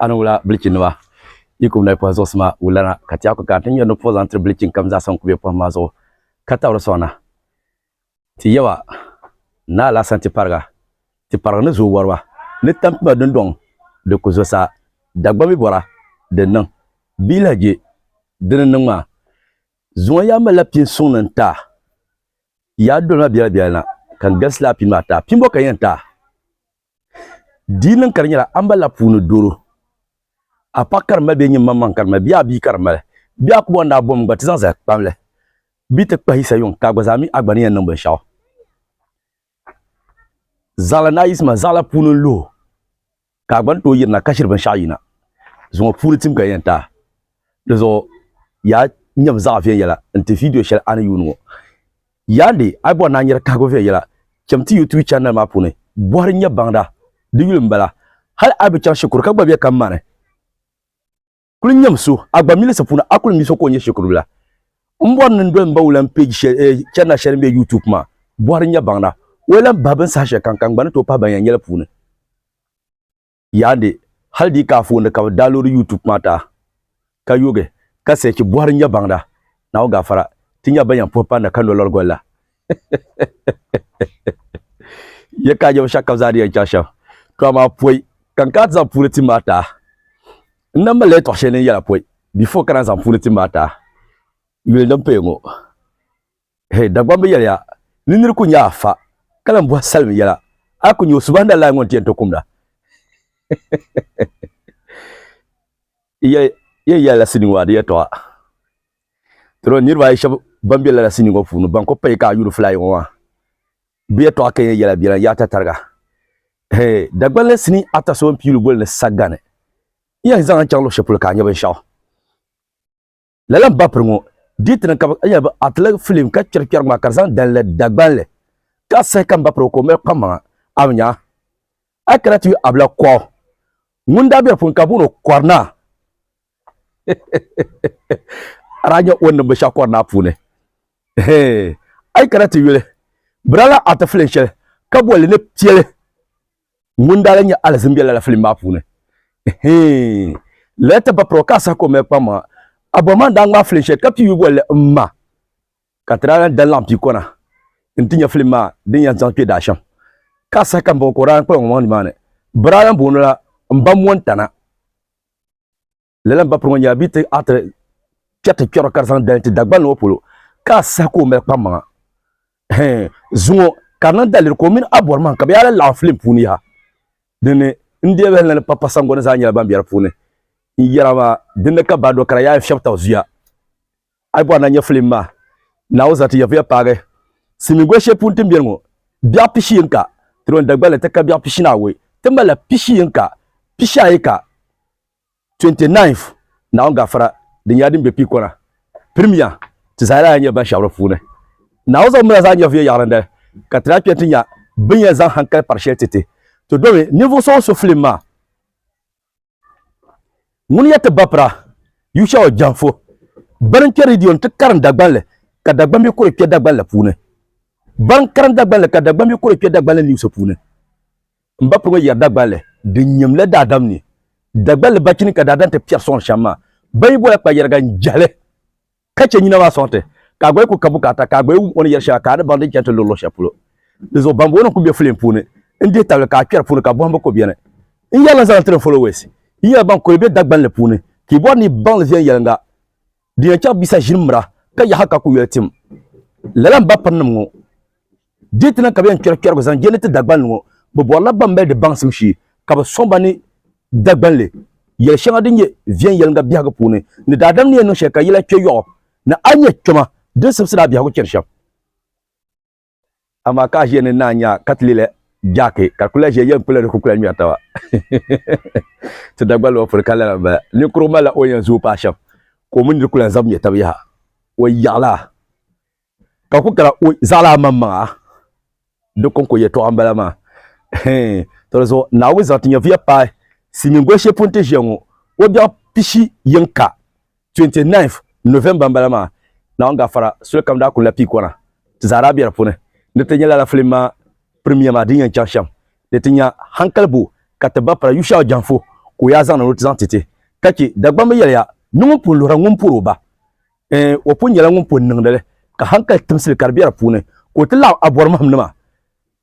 Ani wula bilichi nima yi kuli mali pɔhim zuɣusi maa wulana ka tɛyaku kana ti nyari ni pɔhi zaŋ tiri bilichi n kam zaa sa n kuli bɛ pɔhim maa zuɣu ka tabiri sɔŋ na ti yaba ni alasan ti pariga ti pariga ni zooi wariba ni tampima dundɔŋ di ku zo saa Dagbaŋ mi bɔra di niŋ bia lahi je di ni niŋ maa zuŋɔ yaa malila pini suŋ ni n taai yaa doli ma biɛla biɛla na ka n galisi laa pini maa taai pini bɔ ka n yɛn taai Di niŋ ka di nyɛla ambala puuni doro. A paɣa ka di mali bee nyin maŋmaŋ ka di mali bee a bia ka di mali? Bɛ a kuba ni daa bom gba ti zaŋ zali kpam la, bɛ ti kpahi Yisa yuŋ ka a gba zaa mi a gba ni yɛn niŋ binshɛɣu. Zaɣila ni a yiɣisi ma zaɣila puuni n-luhi o ka a gba ni tooi yirina ka ʒiri binshɛɣu yina zuŋɔ puuni tim ka di yɛn taai. Di zuɣu yaa nyami zaɣa viɛnyɛla n-ti vidiyo shɛli a ni yuuni ŋɔ. Yaandi a yi bɔri ni a nyari kahigu viɛnyɛla, cham ti YouTube channel maa puuni bɔhiri N-nyɛ baŋda, di yuli m-bala. Hali a yi bi chaŋ shikuru ka gba be ka mani, kuli nyam so a gba milisi puuni a kuli mi so ka o nyɛ shikurubila. M bɔri ni n doli m ba wulan page shɛli, channel shɛli m-be YouTube maa bɔhiri N-nyɛ baŋda, o yi lan bahi bini saha shɛlikam ka n gba ni tooi pahi ban yɛn nyɛli puuni. yaandi hali di yi ka anfooni ka bi daa loodi YouTube maa taa ka yoogi ka sechi bɔhiri nya baŋda Naawuni gaafara ti nya ban yɛn puhi panda ka nolɔri goli la. Yɛ ka a nyɛbu shɛba ka bi zaa di yɛn chaŋ shɛm to amaa pɔi ka n kana ti zaŋ puuni tim maa taa n na malila yɛtɔɣ shɛli din yɛla pɔi before ka na zaŋ puuni tim maa taa yuli din paya ŋɔ. Hei Dagbaŋ bi yɛliya ni nir ku nya a fa ka lan bɔhi salim yɛla, a ku nya o Subahanallahi ŋun ti yɛn to kum la? Yi yɛli yɛn yɛla la sinii ŋɔ a di yɛtɔɣa. Dɔro niriba ayi shɛba ban be lala sinii ŋɔ puuni ban ku payi ka a yuuri fulayi ŋɔ maa bɛ yɛtɔɣa ka yɛn yɛla bɛ lan yaɣita tariga. Hei Dagbaŋ la sinii ata so n-pii lu boli ni Sagani. N yɛn zaŋ a chaŋ luɣ shɛli polo ka a nya binshɛɣu. lala n ba piri ŋɔ diiti ni ka bi atila filim ka kpɛri kpɛri maa ka di zaŋ dalila dagbanli ka sahi ka n ba piri ka o mali kpam maŋa a bi nya a kana ti abila kɔ ŋun daa bɛ di puuni ka booni kɔrina ara nyɛ o niŋ binshaɣu kɔrina puuni a yi kana ti yuli birala ati filim shɛli ka bolli ni piɛli ŋun daa lan nyɛ alizin be lala filim maa puuni. Eheeŋ! Lala ti ba puro ka a sahi ka o mali kpaŋmaŋa. Abɔhima n-daa ŋmaai filim shɛli ka pii yu bolli m-ma ka ti daa lan dan laɣim pii kɔna nti nya filim maa din yɛn zaŋ kpe daashɛm. Ka a sahi ka m-bɔŋɔ ka o daa lan kpala ŋɔ maŋ nimaani. Bɛ daa lan booni la Mba Mɔntana. lala n ba piri ŋɔ nyɛla bia ti ati kpɛ ti kpɛro ka di zaŋ dali ti dagban ŋɔ polo ka a saha ka o mali kpam maŋa zuŋɔ ka di niŋ daliri ka o mini abɔri maŋ ka bi yaa laɣam filim puuni yaha dinni n deei bahi lana papa sangoni zaa nyɛla ban bɛ di puuni n yɛra maa dinni ka ba do ka di yaa fiɛbi tabi zuya a yi bɔri na nyɛ filim maa naawu zati yɛvuya paagi simin goli shɛli puuni ti ni biɛni ŋɔ biɛɣu pishi yini ka ti lo n dagballi ti ka biɛɣu pishi naawei ti malila pishi yini ka pishi ayi ka 29th Naawuni gafara din nyɛla din be piikɔna pirimiya ti zaa lahi nyɛ ban shɛbi di puuni. Naawuni zaŋ mila zaa nyɛviya yaɣirindali ka ti lahi kpɛni ti nya bɛ ni yɛn zaŋ hankali pari shɛli ti ti. Ti domi ninvuɣ so o so filim maa. Ŋuni n-nyɛ ti bapira Yushɛɔ Janfo bana n-kpe ridio ni ti karim Dagban li ka Dagban mi kuri kpe Dagban la puuni. Bana n-karim Dagban li ka Dagban mi kuri kpe Dagban li niwusi puuni. M ba puŋɔ yɛri Dagbanli din nyɛm la daadam ni. Dagbanli ba chini ka daadam ti piɛri sɔŋ shɛm maa. Ba yi bɔla kpayɛriga n-jɛhili ka chɛ nyina maa sɔŋ ti, ka a gba yi kul ka bukaata ka a gba yi wum o ni yɛri shɛŋa ka a ni baŋ din chani ti luɣ luɣ shɛli polo. Di zuɣu bambonim kul be filim puuni n-dihi tabili ka a kpɛri puuni ka bɔhimbu kul beni. N yɛli n-zaŋ li tiri n followers, yi nyɛla ban kul be Dagbanli puuni ka yi bɔri ni yi baŋ li viɛnyɛliŋga din yɛn chaŋ bisa ʒini mira ka yaha ka kul yoli tim. Lala m ba pirinim ŋɔ Diti na ka bɛ yɛn kpɛri kpɛrigu zaŋ je ni ti Dagbani ŋɔ bɛ bɔrila ban mali di baŋsim shee ka bɛ sɔŋ ba ni Dagbanli yɛli shɛŋa din nyɛ viɛnyɛliŋga biɛhigu puuni ni daadam ni yɛn niŋ shɛli ka yila kpɛ yɔɣu ni a nya kpɛma din simsi ni a biɛhigu chɛri shɛm. Amaa ka a ʒiya ni naa nya ka ti leela Jaaki ka di kuli lahi ʒiya yɛn kpula di kukula ŋmɛri taba. Ti Dagbanli ŋɔ puuni ka lala m-bala. Ninkurigu malila o yɛn zuui paai shɛm ka o mini di kuli lahi zabi ŋmɛ taba yaha. O yaɣila. ka ku kara o zaɣilaa maŋmaŋa di kɔŋko yɛtɔɣa m-bala maa. Tɔ di zuɣu Naawuni zaŋ ti nyɛvuya paai Silimiin goli shɛli pun ti ʒiya ŋɔ o biɛɣu pishi yiŋka, 29th November m-bala maa. Naawuni gafara soli kam daa kuli la pii kɔna, ti zaa daa be di puuni. Di ti nya lala filim maa premier maa din yɛn chaŋ shɛm, di ti nya hankali bo ka ti ba pala Yushau Janfo ka o yaa zaŋ na ni o ti zaŋ ti ti ka chɛ Dagbamba yɛliya ni ŋun pun luhira ŋun pɔri o ba. o pun nyɛla ŋun pun niŋdi li ka hankali timsili ka di be di puuni ka o ti laɣim abɔrimahimnima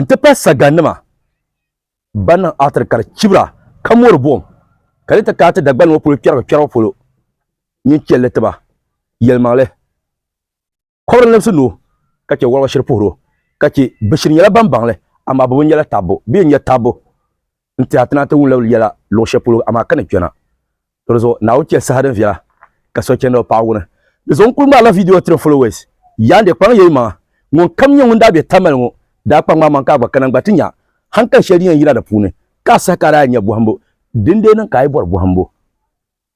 n-ti pahi sagannima ban niŋ aatiri ka di chibira ka mɔri buɣim ka di ti kana ti Dagbani ŋɔ polo kpɛrigu kpɛribu polo nyin chɛ li ti ba yɛlimaŋli kɔbiri libisi ni o ka chɛ wɔliba shiri puhir o ka chɛ bɛ shiri nyɛla ban baŋ li amaa bɛ bi nyɛ la taabbu bee n-nyɛ taabbu. n tiɛha ti na ti wum labili yɛla luɣ shɛli polo, amaa ka ni kpɛna. Di zuɣu Naawuni chɛ saha din viɛla ka sochɛndiba paɣ wuni. Di zuɣu n kul ŋmaarila vidiyo tiri n followers, Yaandiɛ, kpaŋ ya yi maŋa. Ŋunkam nyɛ ŋun daa be Tamale ŋɔ daa kpaŋ ŋmaamaŋ ka a gba kana n-gba ti nya hankali shɛli din yɛn yina di puuni, ka a saha ka a daa yɛn nya bɔhimbu. Dindee niŋ ka a yi bɔri bɔhimbu?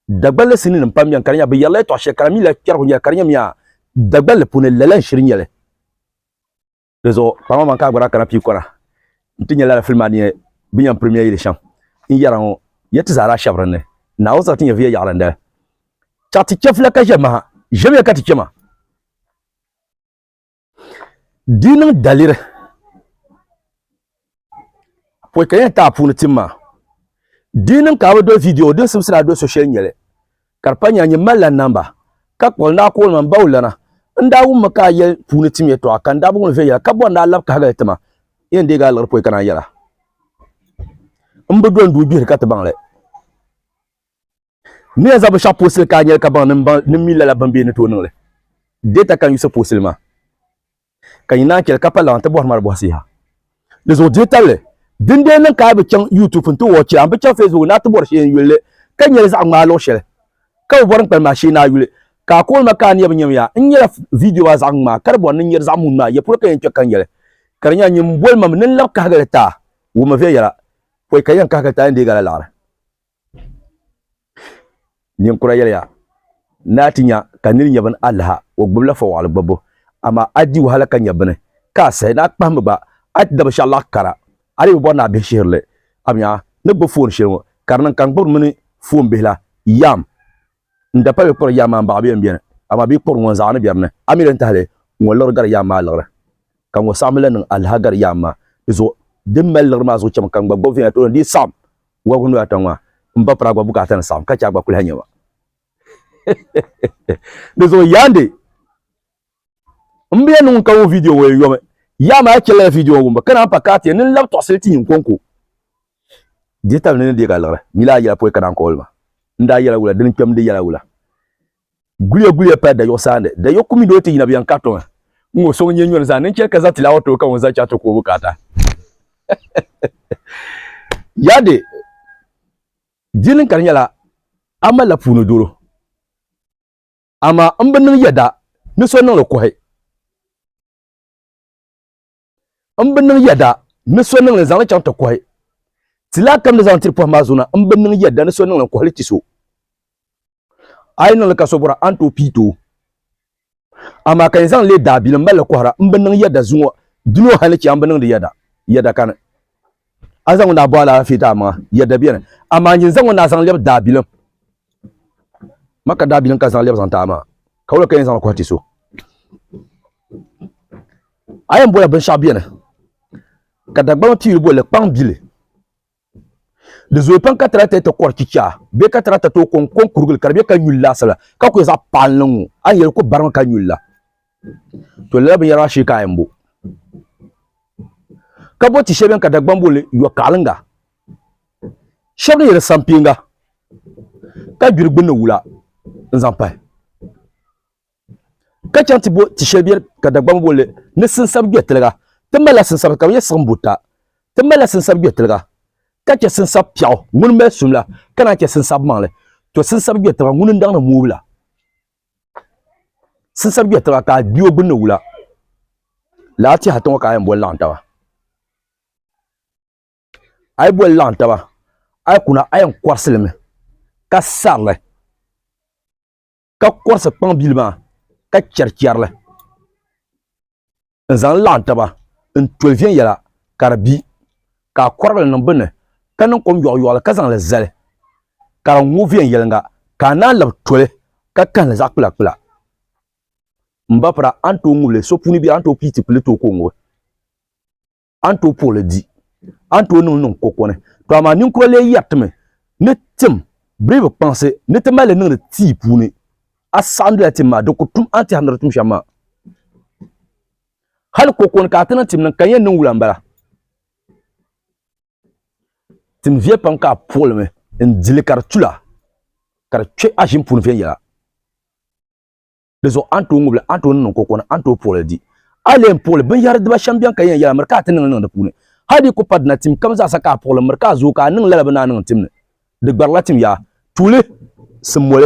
Dagballi sininim pam beni ka di nya bɛ yɛrila yɛtɔɣ shɛli ka di mi lahi kpɛrigu nyɛli ka di nyamiya Dagballi puuni, lala n-shiri nyɛli. di zuɣu kpaŋma man ka agbara kana pii kɔra n ti nyɛ lala fili maa ni yɛn bi yɛn pirimiya yili shɛm n yɛra ŋɔ ya ti zaa daa shɛbi dinni naawuni sarati nyɛ viya yaɣili n dali chaɣ ti chɛ fila ka ʒɛ maha ʒɛmiya ka ti chɛ ma di niŋ daliri pɔi ka yɛn taa puuni tim maa di niŋ ka bi do viidiyo din simsira do so shɛli nyɛli ka di pa nyɛla nyɛ malila namba ka kpuɣi n daa kooli ma n baw lana n daa wummi ka a yɛli puuni tim yɛtɔɣa ka n daa bi ŋuni viɛnyɛla ka bɔri n daa labi kahigali tima yɛn deegi a liɣiri pɔi ka naan yɛla n bi do n duu gbihiri ka ti baŋli Miya zabu shɛɣu puɣisili ka a nyɛli ka baŋ ni mi lala bimbihi ni tooi niŋ li. Data kan yuɣisi puɣisili maa, ka yi naan chɛ li ka pa laɣim ti bɔhiri mali bɔhisi yaha. Di zuɣu dihi tabili, din dee niŋ ka a bi chaŋ YouTube nti wɔchi, a ni bi chaŋ Facebook ni a ti bɔri shee n-yuli li, ka nyɛ li zaɣ ŋmaa luɣ shɛli ka bi bɔri n-kpalim a shee ni a yuli, ka a koŋli ma ka a niya bi nyam ya. N nyɛla viidiyo maa zaɣ ŋmaa, ka di bɔri ni n nyɛ di zaɣ muun maa, ya polo ka yɛn kpe ka n yɛli, ka di nyɛla nyin boli ma mi ni n lab kahigi li ti a, wummi viɛnyɛla pɔi ka yɛn kahigi li ti a yɛn deeg a la liɣiri. Ninkura yɛliya ni a ti nya ka nir nya bini alaha, o gbibila fɔwaɣili gbibbu, amaa a di wahala ka nya bini ka a sahi ni a kpahimmi gba. A ti da binshɛɣu laɣ kara, a lee bi bɔri ni a bihi shihiri li. Amiya! Ni gbibi foon shɛli ŋɔ ka di niŋ ka n gbibiri mini foon bihi la, Yam! N da pa bɛ kpɔri yaa maa m-baɣi bɛ yɛn beni, amaa bɛ yi kpɔri ŋɔ n-zaɣi ni bɛri ni. A mi di ni tahili ŋɔ liɣiri gari yaa maa liɣiri, ka ŋɔ saɣim lan niŋ aliha gari yaa maa. Di zuɣu di ni mali liɣiri maa zuɣu cham ka n gba gɔbi viɛnyɛla tooni di yi saɣim wɔbigu noya ata ŋɔ maa, m ba piri a gba bukaata ni saɣim ka chɛ a gba kuli ha nya ma. Di zuɣu Yandi! Mbiya niŋ ka ŋun video ŋɔ yomi yaa maa chɛla ya video ŋɔ wumbu ka naan pa ka ti ya nini labi tɔɣisili ti nyinkonko dihi tabili ni ni deeg a liɣiri mila a yɛla pɔi ka naan ka olima n daa yɛla wula dini kpɛm di yɛla wula guliya guliya paya dayɔɣu saandi dayɔɣu kumi doli ti yina biɛn ka tɔŋ n ŋɔ sɔŋ nyɛ nyɔri zaa ni n chɛri ka za tilaawa too ka ŋun za chaɣa ti ku o bukaata yade dini ka di nyɛla a malila puuni doro amaa m bi niŋ yɛda ni so niŋ li kuhi. M bi niŋ yɛda ni so niŋ li zaŋ li chaŋ ti kuhi. Ti lahi kamdi zaŋ tiri pɔhim maa zuɣu na, m bi niŋ yɛda ni so niŋ li n kuhi li ti so. A yi niŋ li ka so bɔra, a ni tooi piit o. Amaa ka yi zaŋ leei daabili m mali li kɔhira, m bi niŋ yɛda zuŋɔ, di ni o hal ni chɛ a m bi niŋdi yɛda, yɛda kani. A ni zaŋ ŋun daa bɔh alaafee daamaŋa yɛri dabiɛni, amaa n yin zaŋ ŋun daa zaŋ lɛbi daabilim, Makka daabilim ka zaŋ lɛbi zaŋ ti a maa, ka wula ka yi ni zaŋli kɔhi ti so? A yɛn bɔla binshɛɣu bɛ ni, ka Dagbamba piyuli boli li kpaŋbili. Di zooi pam ka tarakta ti kɔri chichaa bee ka tarakta tooi kɔŋ kɔŋ kurigili ka di be ka nyuli laasabu la, ka kuli zaɣ paɣilinli n-ŋɔ, a ni yɛli ku barimi ka nyuli la. to lala binyɛra maa shee ka a mbo ka bo ti shɛba ka Dagban boli yɔ kaɣalinga shɛba ni yɛli sampiinga ka gbiri gbunni wula n zaŋ pahi ka chaŋ ti bo ti shɛli bɛ ka Dagban boli ni sinsab gbɛtiliga ti malila sinsab ka bi yɛ siɣim buta ti malila sinsab gbɛtiliga ka chɛ sinsab piɛɣu ŋuni mali sumla ka naan chɛ sinsab maŋli to sinsab gbɛtiliga ŋuni n daŋ ni moobila sinsab gbɛ taba ka a gbi o gbunni wula, lala tɛha ti ŋɔ ka a yɛn boli laɣim taba. A yi boli laɣim taba, a yi kuna a yɛn kɔrisi li mi ka sari li, ka kɔrisi kpaŋ bili maa ka chɛri chɛri li. n zaŋ laɣim taba n toli viɛnyɛla ka di bi ka a kɔrigi li niŋ bini ni ka niŋ kom yɔɣiyɔɣili ka zaŋ li zali ka di ŋu viɛnyɛliŋga ka a naan labi toli ka kahi li zaɣ kpulakpula. M ba pira a ni tooi ŋubi li, so puuni biɛri a ni tooi pii tipili tooi ka o ŋubi. a ni tooi puɣili di, a ni tooi niŋli niŋ koko ni. To amaa ninkura lee yɛritimi ni tim biribi kpaŋsi ni ti mali li niŋdi tii puuni. A saɣindila tim maa, di ku tum a ni tɛhiri ni di tum shɛm maa. Hal koko ni ka a ti niŋ tim niŋ ka di yɛn niŋ wula m-bala. Tim viɛ pam ka a puɣili mi n-di li ka di tula ka di kpe a ʒini puuni viɛnyɛla. Di zuɣu a ni tooi ŋubili, a ni tooi niŋniŋ ka o kɔni, a ni tooi puɣili di. A leei n puɣili binyɛhiri diba shɛm bɛn ka yɛn yɛla miri ka a ti niŋli niŋ di puuni. Hal di ku pari dina tim kam zaa sa ka a puɣili miri ka a zooi ka a niŋ lala bɛ ni a niŋ tim ni. Di gbarila tim yaa. Tuuli, Simmoli.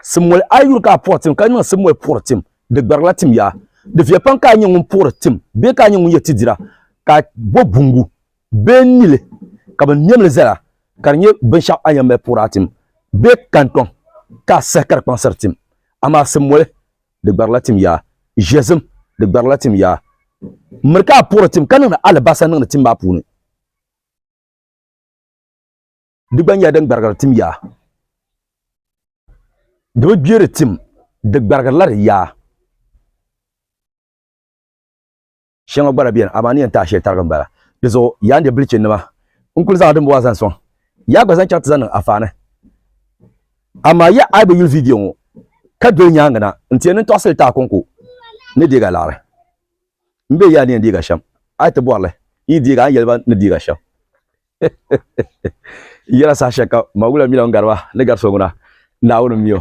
Simmoli, A yi yuri ka a puɣi tim ka niŋ simmoli puɣiri tim, di gbarila tim yaa. Di viya pam ka a nyɛ ŋun puɣiri tim bee ka a nyɛ ŋun yɛ ti dira ka a bɔbi buŋgu bee nili ka bɛ niɛm li zala ka di nyɛ binshɛɣu a yɛn mali puur a tim bee kantɔŋ ka a sahi ka di kpaŋsiri tim, amaa simoli di gbarila tim yaa, ʒiɛzim di gbarila tim yaa. Miri ka a puuri tim ka niŋdi alibasa niŋdi tim maa puuni, di gba nyɛla din gbarigiri tim yaa, di bi gbeeri tim, di gbarigirila di yaa. Shɛŋa gba lahi beni, amaa ni yɛn taai shɛli tarigi m-bala. Di zuɣu yaa n de bilichinima, n kul zaŋla dimbɔŋɔ zaŋ sɔŋ ya gba zaŋ chaŋ ti zaŋ niŋ afaani. Amaa ya a yi bi yuli viidiyo ŋɔ ka doli nyaaŋa na, n ti yɛn niŋ tɔɣisili taai kɔŋko ni deega laɣiri. M be ya ni yɛn deeg a shɛm, a yi ti bɔri li n yi deeg a, a ni yɛli ba ni deeg a shɛm. N yɛla saha shɛli kam, ma wula mi la ŋun gari ba ni gari so ŋuna, Naawuni m-mi o.